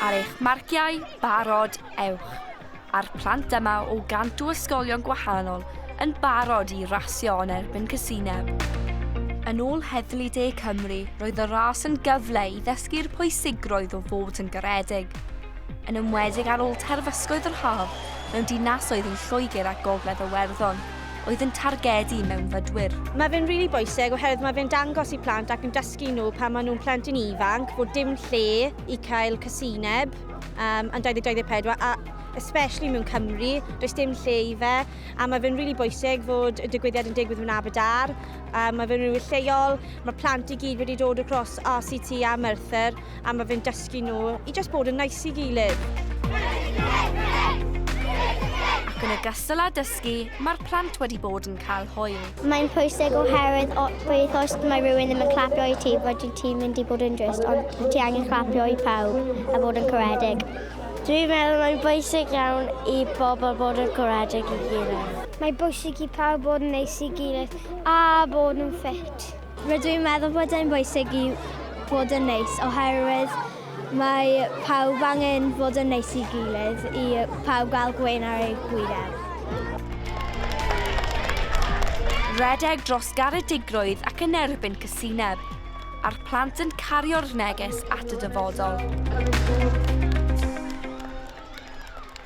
Ar eich marciau, barod, ewch! A'r plant yma o gant o ysgolion gwahanol yn barod i rasio yn erbyn Casineb. Yn ôl Heddlu De Cymru, roedd y ras yn gyfle i ddysgu'r pwysigrwydd o fod yn garedig, yn enwedig ar ôl terfysgoedd yr haf mewn dinasoedd yn Lloegr a Gogledd Iwerddon, oedd yn targedu mewnfudwyr. Mae fe'n rili bwysig oherwydd mae fe'n dangos i plant ac yn dysgu dysgu nhw pan maen nhw'n plentyn ifanc fod dim lle i cael casineb um, yn 2024 a especially mewn Cymru, does dim lle i fe a mae fe'n rili really bwysig fod y digwyddiad yn digwydd mewn Aberdar a mae fe'n rili lleol, mae plant i gyd wedi dod across RCT a Merthyr a mae fe'n dysgu nhw i just bod yn nice i gilydd. Ac yn ogystal â dysgu, mae'r plant wedi bod yn cael hwyl. Mae'n pwysig oherwydd o, beth os mae rhywun ddim yn clapio i ti, fod ti'n mynd i bod yn drist, ond ti angen clapio i pawb a bod yn coredig. Dwi'n meddwl mae'n bwysig iawn i bobl bod yn coredig i gilydd. Mae bwysig i pawb bod yn neis i gilydd a bod yn ffit. Rydw i'n meddwl bod e'n bwysig i fod yn neis oherwydd mae pawb angen fod yn neis i gilydd i pawb gael gwyn ar ei gwyneb. Rhedeg dros garedigrwydd ac yn erbyn cysineb, a'r plant yn cario'r neges at y dyfodol.